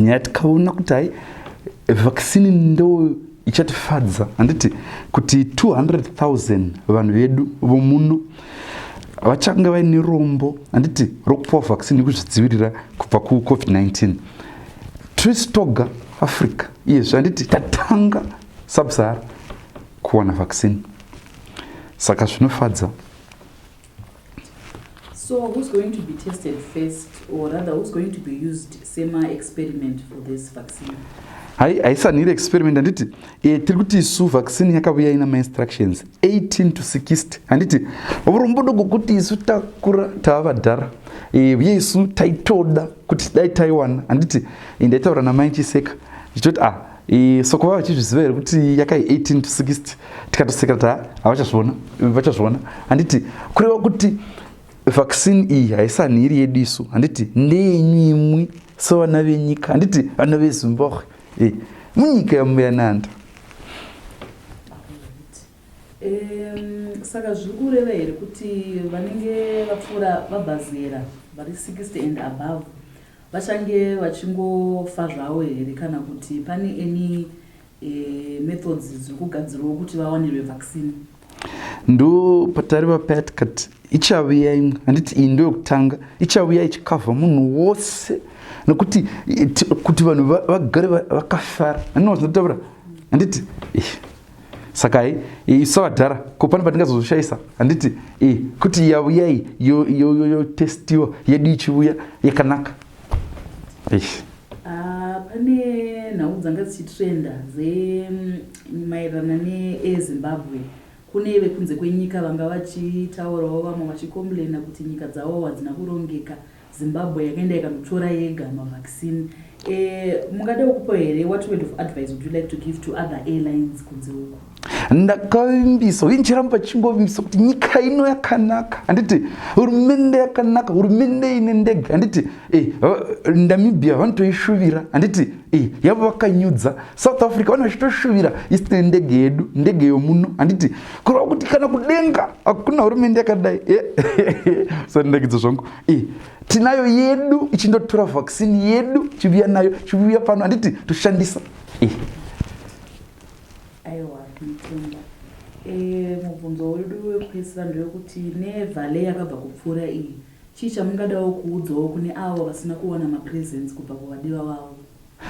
nyaya tikaona kuti hai vaccine ndo ichatifadza handiti kuti 200000 vanhu vedu vomuno vachange vaine rombo handiti rokupiwa vaccine yekuzvidzivirira kubva kucovid-19 tris toga africa iyezvi handiti tatanga subsahara kuwana vaccine saka zvinofadza So who's going to be tested first or rather who's going to be used sema experiment for this vaccine? Hai haisanire experiment handiti e, tiri kuti isu vaccine yakavuya ina mainstructions 18 to 60 handiti urombodo gokuti isu takura tava vadhara e, uye isu taitoda kuti dai taiwana handiti e, ndaitaura namaichiseka ndichitoti ah E, soko vava vachizviziva here kuti yakai 18 to 60 tikatoseka kuti havachazviona vachazviona handiti kureva kuti vaccine iyi haisanhiri yedu isu handiti ndeyenyu imwi sevana venyika handiti vana vezimbabwe e, munyika yamuyananda um, saka zviri kureva here kuti vanenge vapfuura vabhazera vari 60 and above Vachange vachingofa zvavo here kana kuti pane any e, methods dziri kugadzirwawo kuti vawanirwe vaccine? Ndo patari vapatkat ichaviya imwe handiti iyi ndo yokutanga ichaviya ichikavha munhu wose nokuti kuti vanhu vagare vakafara anozinotaura handiti saka isu vadhara ko pane patingazozvishaisa handiti e, kuti yavuya iyi yotestiwa yedu ichivuya yakanaka eish ah, pane nhau dzanga dzichitrenda dzemaererana mm, neezimbabwe kune vekunze kwenyika vanga vachitaurawo vamwe vachicomplaina kuti nyika dzavo hadzina kurongeka Zimbabwe yakaenda ikanotora yega mavaccine eh, mungada ukupo here what word of advice would you like to give to other airlines kunze uku ndakavimbisa uye ndichiramba chingovimbisa kuti nyika ino yakanaka handiti hurumende yakanaka hurumende ine ndege handiti eh, namibia vanotoishuvira handiti eh, yavo vakanyudza south africa vane vachitoshuvira isine ndege yedu ndege yomuno handiti kureva kuti kana kudenga hakuna hurumende yakadai eh, so ndekidzo zvangu e, tinayo yedu ichindotora vaccine yedu chivuya nayo chivuya pano handiti toshandisa e. aiwa mutenda e, mubvunzo wedu wekupedzisira ndewekuti nevale yakabva kupfuura iyi chii chamungadawo kuudzawo kune avo vasina kuwana mapresents kubva kuvadiwa vavo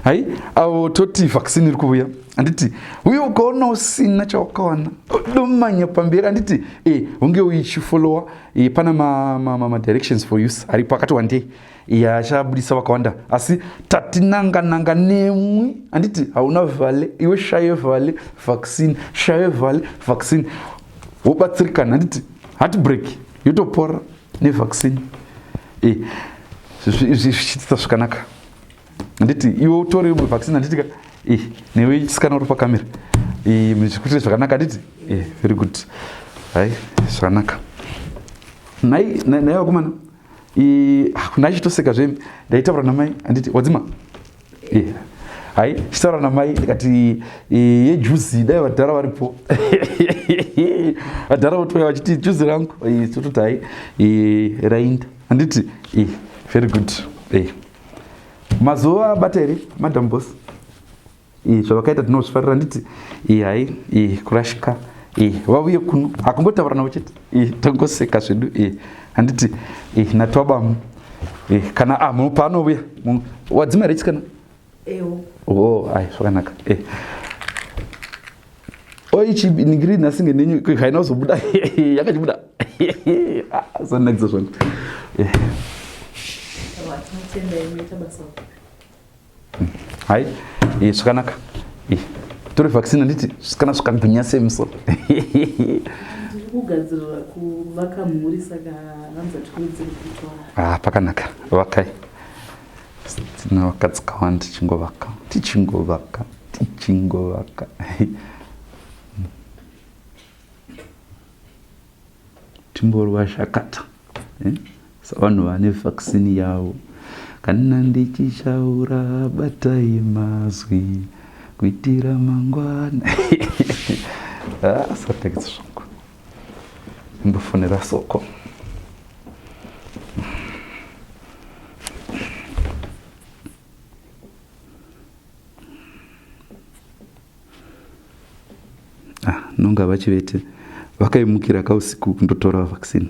hai avo toti vaccine iri kuvuya handiti uye ukaona usina chawakawana domanya pamberi handiti e unge uichifollowa e, pana madirections ma, ma, ma for use aripo akati wandei e, achabudisa vakawanda asi tatinanga nanga nemwi handiti hauna vhale iwe shaye vhale vaccine shaye vhale vaccine wobatsirikana handiti heartbreak yotopora nevaccine e, zvichiitisa zvakanaka handiti iwe utore imwe vaccine handiti ka eh, newe chisikana uri pakamera eh, zvikuitire zvakanaka handiti eh, very good hai zvakanaka nai nai vakomana ah, nai chitoseka zve ndaitaura namai handiti wadzima hai chitaura namai ndikati yejuzi dai vadhara varipo vadhara votouya vachiti juzi rangu tototi hai rainda handiti very good mazuva abata here madam bos iyi zvavakaita tinozvifarira handiti iyi hai iyi kurashika iyi vavuye kuno hakungotaura navo chete iyi tongoseka zvedu iyi handiti iyi natwabamu iyi kana a ah, munhu paanovuya munhu wadzimari chikana o oh, ai zvakanaka iyi oichibinigiri nhasi ngenenyu haina kuzobuda yakachibuda zanakiza ah, zvangu hai eh, zvakanaka eh, tore vaccine handiti kana zvakagwinya semso ah, pakanaka vakai Tinovaka dzikawanda tichingovaka tichingovaka tichingovaka timborwa zvakata eh? savanhu vane vaccine yavo kana ndichichaura batai mazwi kuitira mangwana asatagisa ah, zvangu ndofonera soko ah, nonga vachivete vakaimukira kausiku kundotora vaccine